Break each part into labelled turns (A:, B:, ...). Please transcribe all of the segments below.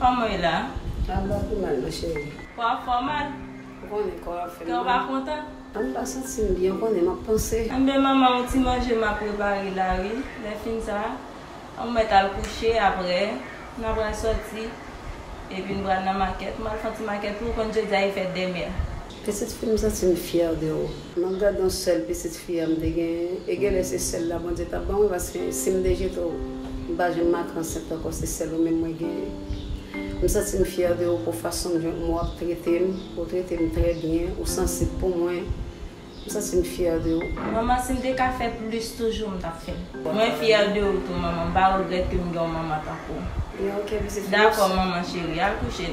A: Koman e la? An ba pi mal
B: nan cheri. Kò ap fè w mal?
A: Ou konnen kò
B: ap fè m mal. Kè w pa kontan?
A: An m pa santi m
B: byen ou konnen m ap panse. Anben manman yon ti
A: manje m ap prepare la wi. Lè fin sa an mèt al kouche aprè nan pral sòti epi n pral nan makèt. M al fon ti makèt tou ou konn jodi a e fèt demè. Pitit fi m santi
B: m fyè de ou. M ap gad yon sèl pitit fi a m te genyen e genlè se sèl la Bondye tap banmwen paske si m te jete w m pa janm ak ansent ankò se sèl ou menm mwen genyen m santi m fyè de ou pou fason m jan ou ap trete m ou trete m trè byen ou sansib pou mwen m santi m fyè de ou. Manman si m te ka
A: fè plis toujou m tap fèl. Mwen fyè de ou tou manman m pa regrèt ke m gen yon manman tankou w. Dakò
B: manman cheri
A: al kouche.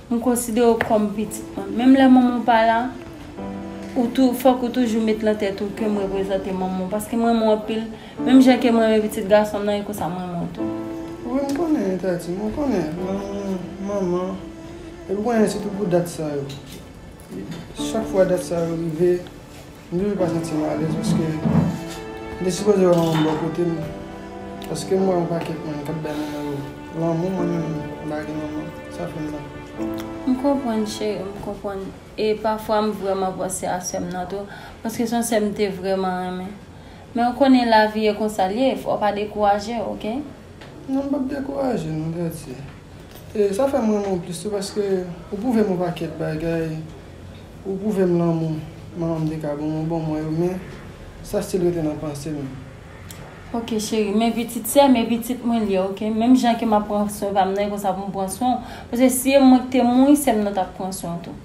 C: M konsidere w kòm pitit mwen. Menm lè manman w pa la, ou tou, fòk ou toujou met nan tèt ou ke m reprezante manman w, paske m renmen w anpil, menm jan ke m renmen pitit gason m nan, e konsa m renmen w tou. Wi, m
D: konnen, Tati, mwen konnen lanmou manman, epi w konnen se tou pou dat sa yo. Chak fwa dat sa yo rive. M toujou pa santi m alèz paske m te sipoze wè manman m bò kote m paske m wè yon pakèt moun k ap bay manman yo lanmou mwen menm m pa gen manman sa fè m mal. M konprann
C: cheri m konprann e pafwa m vrèman panse a sè m nan tou paske s on sè m te vrèman renmen men ou konnen lavi e konsa l ye fò w pa dekouraje ok. Non m p ap
D: dekouraje non Katie. E sa fèm renmen w plis tou paske ou pwouvem yon pakèt bagay ou pwouvem lanmou manmanm te ka banm ou ban mwen yo men sa stil rete nan pansem. Ok
C: cheri men pitit sèm e pitit mwen liye ok menm jan ke map pran swen pam nan e konsa poum pran swen w paske si e mwen ki te mouri sèm nan tap pran swen w tou.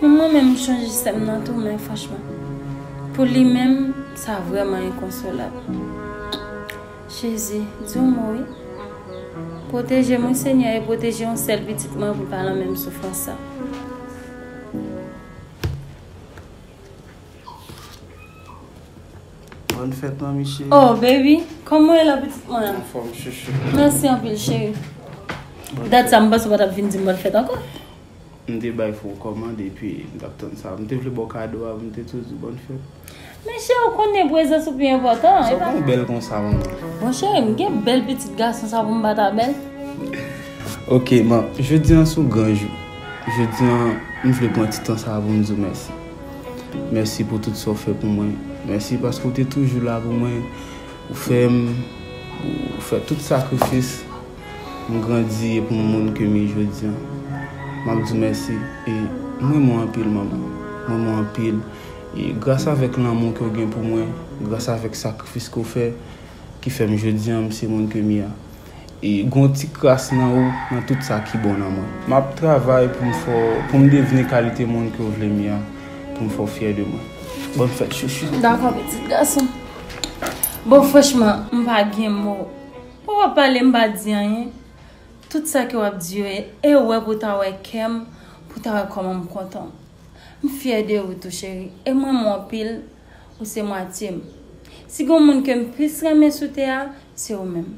C: Menm mwen menm m chanje sèm nan tou men franchman pou li menm sa vrèman enkonsolab Jezi di yon mo wi Pwotejem wi Senyè e pwoteje yon sèl pitit mwen pou l pa nan menm soufrans sa.
D: Bòn fèt manmi cheri. Oh baby,
C: kòman w ye la pitit mwen? Anfòm chouchou.
D: Mèsi anpil cheri.
C: Dat sa m panse w pa t ap vin di m bòn fèt ankò. M te
E: bay fon kòmand epi m tap tann sa. M te vle baw kado a m te tou di bòn fèt. Men cheri w
C: konnen prezans ou pi enpòtan. Sa w konn bèl konsa
E: manman. Bon cheri m
C: gen bèl pitit gason sa pou m pa ta bèl?
E: Ok man, jodi an sou gran jou. Jodi an m vle pran ti tan sa pou m di w mèsi. Mèsi pou tout sa w fè pou mwen. Mèsi paske w te toujou la pou mwen. Ou fè m, ou fè tout sakrifis M grandi e pou m moun ke m ye jodi an. M ap di w mèsi e m renmen w anpil manman. M renmen w anpil e gras avèk lanmou ke w gen pou mwen, gras avèk sakrifis ke w fè ki fè m jodi an m se moun ke m ye a. E gen yon ti kras nan ou, nan tout sa ki bon nan mwen. M ap travay pou m fè w, pou m devni kalite moun ke w vle m ye a, pou m fè w fyè de mwen. Bòn fèt chouchou. Dakò pitit gason.
C: Bon franchman m pa gen mo. Ou pa pale m pa di anyen Tout sa ke wap di yo e ewè pou ta wè kèm Pou ta wè kòman m kontan M fyè de ou tou cheri e m renmen w anpil Ou se mwatye m Si gon moun ke m plis renmen sou tè a Se ou menm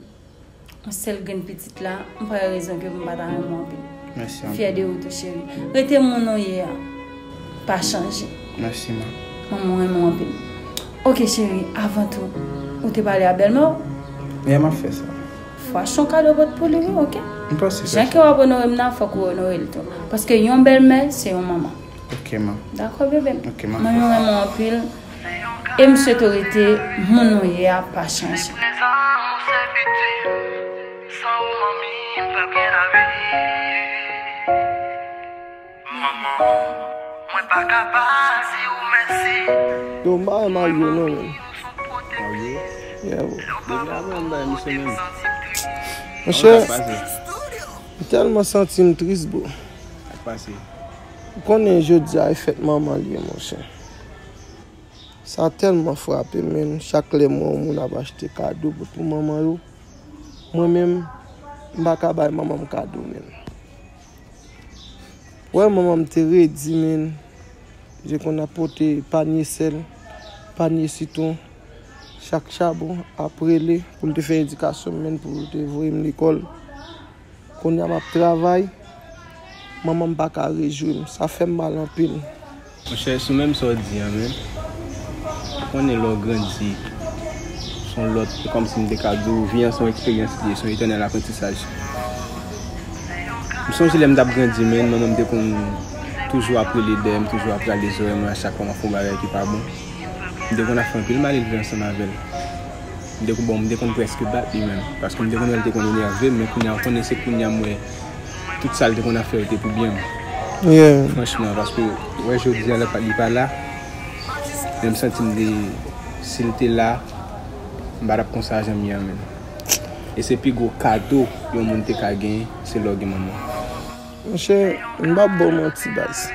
C: Yon sèl grenn pitit la M pa wè rezon ke pou m pa ta renmen w anpil M fyè de ou
E: tou cheri
C: Rete moun ou ye a. pa chanje. Merci ma.
E: Manman renmen w
C: anpil. Ok cheri avan tou ou te pale a bèlmè w? Yeah map fè
E: sa. Fwa son kado
C: pot pou li wi ok. M pase fè sa. Jan kew
E: ap onore m nan
C: fok ou onore l tou. Paske yon bèlmè se yon manman. Ok ma.
E: Dakò bebe m. Ok
C: map fè sa. Manman renmen w
E: anpil
C: e m swete w rete moun ou ye a pa chanje.
D: Yo marye Mario non
E: menn. Monchè m
D: telman santim tris bro.
E: Ou konnen
D: jodia e fèt manman l ye monchè. Sa telman frapem menn chak lèm wè yon moun ap achte kado pou manman yo. Mwen menm m paka bay manmanm kado menn. Wè manman m te redi menn. Je konn ap pote panye sèl, panye sitwon. Chak chabon ap rele pou l te fè edikasyon m menn pou l te voye m lekòl. Kounye a m ap travay, manman m pa ka rejou m. Sa fè m mal anpil. Monchè sou
E: menm sa w di an menm, ou konnen lè w grandi s on lòt, se kòmsi m te ka di w vi an s on eksperyans li ye, s on etènèl aprantisaj. M sonje lè m t ap grandi menn, manman m te konn toujou ap rele dèyè m, toujou ap rale zòrèy mwen a chak fwa m ap fè yon bagay ki pa bon. M te konn ap fè anpil malelve ansanm avè l. M te konn, bon, m te konn prèske bat li menm, paske m te konn wè l te konn enève m, men kounye a, ou konnen se kounye a m wè. Tout sal te konn ap fè yo te pou byen m franchman
D: paske
E: wè jodia li pa la men m santi m de sil te la m pa tap konsa jan m ye an menm e se pi gwo kado yon moun te ka gen se lè w gen manman. Monchè
D: m pap baw manti baz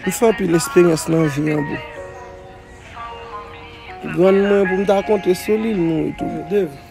D: m fè anpil esperyans nan vi an bro grann mwen pou m ta konte sou li l mouri tou.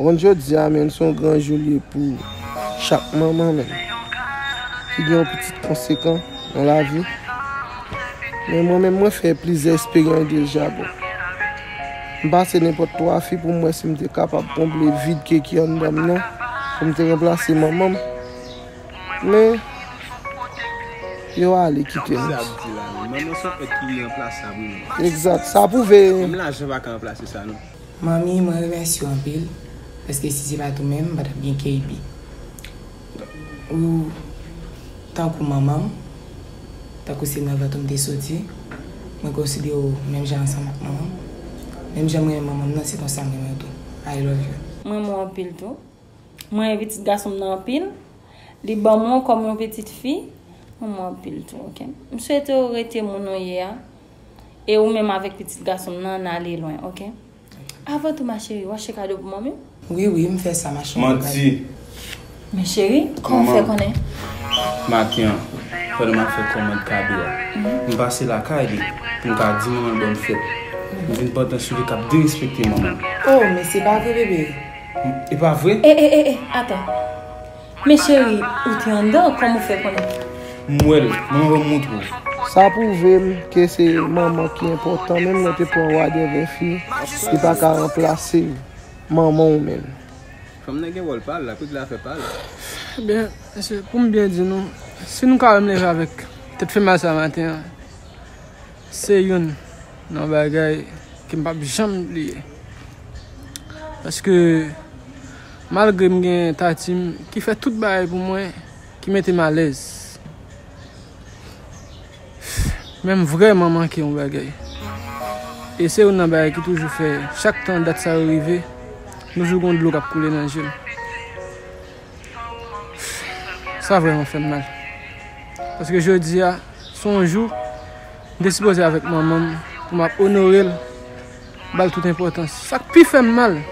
D: Kont jodi a menn son gran jou li ye pou chak manman menn ki gen yon pitit konsekan nan lavi men mwen menm mwen fè plizyè esperyans deja bon m pase nenpòt 3 fi pou m wè si m te kapab konble vid ke ki anndan m nan pou m te ranplase manman m men yo ale kite m Manman son èt ki iranplasab
E: wi menn Egzat sa pwouve.
D: Menm lajan pa ka ranplase
E: sa non. Manmi mwen remèsye
F: w anpil paske si se pat ou menm m patap gen KB ou tankou manman m tankou se nan vant ou m te soti mwen konsidere w menm jan ansanm ak manman m menm jan m renmen manman m nan se konsa m renmen w tou I love you. M renmen w anpil tou.
C: M renmen pitit gason m nan anpil. Li banm w kòm yon pitit fi. M renmen w anpil tou ok. M swete w rete moun ou ye a. E ou menm avèk pitit gason m nan, n ale lwen, ok? Avan tou, ma cheri, w achte kado pou manmi w? Wi, wi, m fè sa,
F: ma cheri. Manti!
E: Men
C: cheri, kòman w fè konnen? Maten
E: an, pandan m ap fè kòmand kado a, m pase lakay li pou m ka di manman l bòn fèt. M vin pantan sou li k ap derespekte manman l. O, men se pa
F: vre, bebe? E pa vre?
E: E, e, e, e, atann!
C: Men cheri ou te andan kòm ou fè konnen. M wè l, manman banm
E: montre w. Sa pwouve
D: m ke se manman ki enpòtan menm lè w te pran wadè vè fi li pa ka ranplase manman w menm. Fanm nan gen wòl
E: pa l la, kout la fè pa l. Ebyen
D: mesye pou m byen di nou si nou ka wè m leve avèk tèt fè mal sa maten an se youn nan bagay ke m pap janm bliye paske Malgre m gen Tati m ki fè tout bagay pou mwen ki mete m alèz. Men m vrèman manke yon bagay. E se youn nan bagay ki toujou fè chak tan dat sa yo rive, m toujou gon dlo k ap koule nan je m. Sa vrèman fè m mal. Paske jodi a, se yon jou m te sipoze avèk manman m pou m ap onore l, ba l tout enpòtans. Sa k pi fè m mal.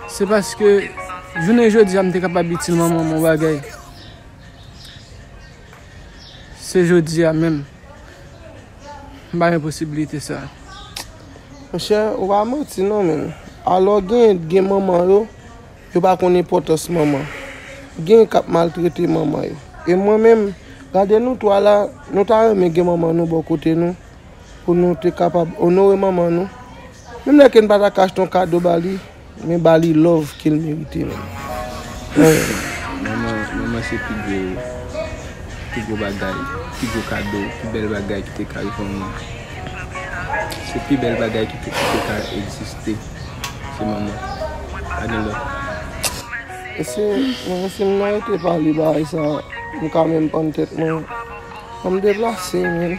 D: Se paske jounen jodi a m te kapab itil manman m yon bagay. Se jodi a menm. M pa gen posibilite sa. Mon chè, ou pa manti non menm. Alò gen, gen manman yo, yo pa konn enpòtans manman. Gen k ap maltrete manman yo. E mwen menm, gade nou twa la, nou ta renmen gen manman nou bò kote nou pou nou te kapab onore manman nou. Menm lè ken pata ka achte yon kado ba li men ba li love kel merite menm
E: ooh. Manman se pi gwo pi gwo bagay pi gwo kado pi bèl bagay ki te ka rive yon moun se pi bèl bagay ki te ka egziste se manman pa gen lòt.
D: Mesye mwen si mwen rete pale bagay sa mwen ka menm pann tèt mwen fòm deplase menn.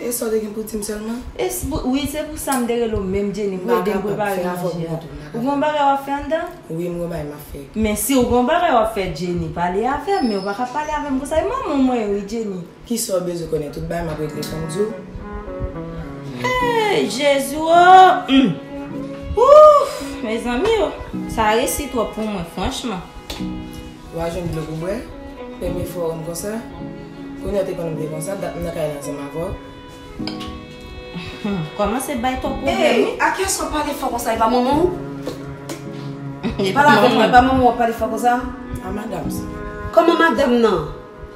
A: E sa w te
F: gen pou w di m sèlman? E se pou, wi se pou
A: sa m te rele w menm Jenny pou w ede m prepare manje a. Ou gen yon bagay w ap fè anndan? Wi m gen yon bagay m ap fè.
F: Men si w gen yon bagay
A: w ap fè Jenny pale avè m men ou pa ka pale avè m konsa e manman w mwen ye wi Jenny. Ki sa w bezwen konnen
F: tout bagay m ap regle fè m di w. Hey
A: Jezi woo! Ouf! Mezanmi oo! Sa resi twòp pou mwen franchman. Wa
F: jwenn dlo pou bwè, premye fwa wèm konsa, kounye a te konnenm te konsa, dat m nan kay la ansanm avèw.
A: Kòmanse bay twòp pwoblèm wi. Hey akyèsw wap pale
B: fò konsa epa manmanw? Pale avèm non epa manmanw wap pale fò konsa? A madam sa.
F: Kòman madam
B: nan?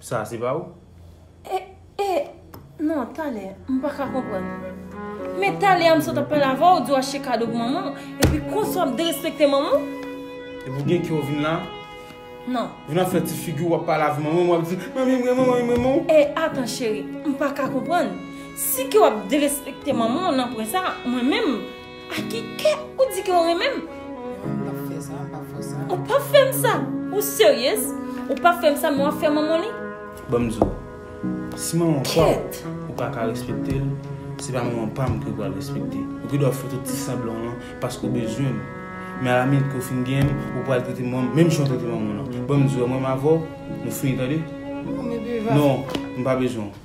B: Sa se pa
E: ou? E, e,
C: non, talè, m pa ka konprann. Men talè a m sot ap pale avè w, ou di w achte kado pou manman w, epi konsa w ap derespekte manman w? Epi w gen
E: kè w vin la? Non.
C: Vin ap fè ti figi
E: w wap pale avè manman w, wap di, Manmi m renmen w, manmi m renmen w. E, atan
C: cheri, m pa ka konprann. Si kè w ap derespekte manman w nan pwen sa, mwen menm. A ki kè ou di ke ou renmen m? M pap fè sa, m pap fè
F: sa. Ou pap fè m sa?
C: Ou seryez? Ou pap fè m sa men wap fè manman li? Bon m di w,
E: si manman pa w ou pa ka respekte l, se pa manman pa m ke ou pral respekte. Ou gen dwa fè tout ti sanblan w lan paske ou bezwen m. Men alaminit ke ou fin genyen m, ou pral trete manman m menm jan ou trete manman w lan. Bon m di w, mwen menm avè w, nou fini tande? Non, m pa bezwen w.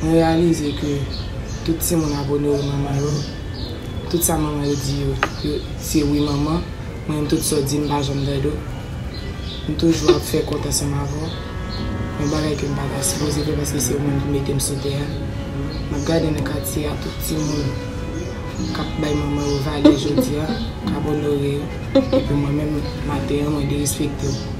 G: Mwen
F: reyalize ke tout timoun abone wi manman yo, tout sa manman yo di yo se wi manman, mwen menm tout sa w di m pa janm dèdou, m toujou ap fè kont ansanm avè w, yon bagay ke m pa ta sipoze fè paske se ou menm ki mete m sou tè a, m ap gade nan katye a tout timoun k ap bay manman yo valè jodi a, k ap onore yo, epi mwen menm maten an mwen derespekte w.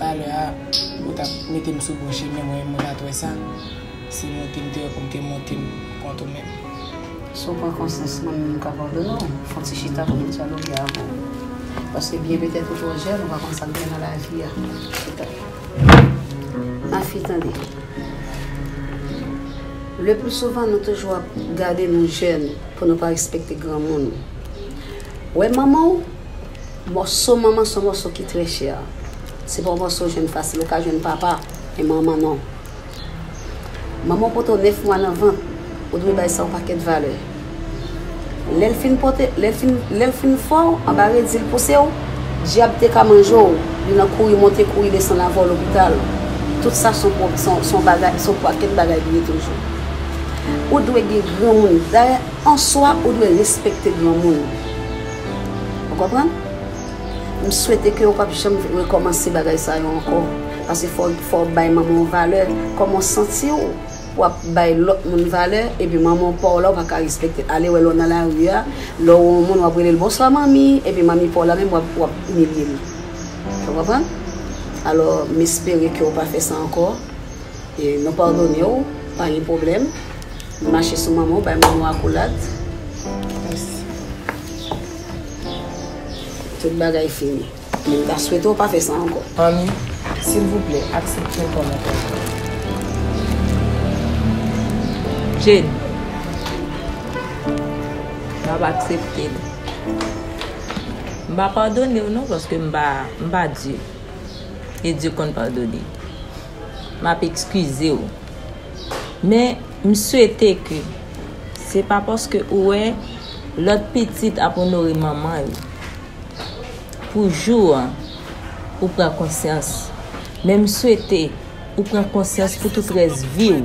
F: Talè a ou tap metem sou bon chemen mwen menm mwen pat wè sa se montem te wè poum te montem kont ou menm. Si w pran
B: konsyans mwen menm m ka padone w, fè yon ti chita pou nou dyaloge avè w. Paske byen petèt ou twò jèn ou pa konn sa k gen nan lavi a. Chita. Mafi tande. Leplisouvan nou toujou ap gade nou jèn pou nou pa respekte granmoun. Wè manman w? Mòso manman son mòso ki trè chè. Se pa yon mòso ou jwenn fasil. Ou ka jwenn papa, men manman non. Manman w pote w 9 mwa nan vant, ou dwe bay sa yon pakèt valè. Lè l fin pote, lè l fin, lè l fin fè w, anba redi l pouse w, dyab te ka manje w, li nan kouri monte kouri desann avè w lopital. Tout sa son pwo, son, son bagay, son pakèt bagay li ye toujou. Ou dwe gen granmoun. Dayè, an swa, ou dwe respekte granmoun. Ou konprann? M swete ke ou pap janm rekòmanse bagay sa yo ankò. Pase fò w bay manman w valè. Kòman w santi w pou w ap bay lòt moun valè epi manman w pa w la ou pa ka respekte l? Ale wè lè w nan lari a, lè w wè yon moun w ap rele l bonswa manmi epi manmi pa w la menm w ap imilye l. Ou konprann? Alò m espere ke ou pa fè sa ankò. Nou padone w pa gen pwoblèm. Li mache sou manman w bay manman w akolad. Tout bagay fini. Men m ta swete w pa fè sa ankò. Anmi,
F: silvouplè aksepte m kòm anployè w.
A: Jane, M ap aksepte l. M pa padone w non paske m pa Dye. E Dye konn padone. map ekskize w men m swete ke se pa paske ou wè lòt pitit ap onore manman yo pou jou an ou pran konsyans men m swete ou pran konsyans pou tout rès vi w.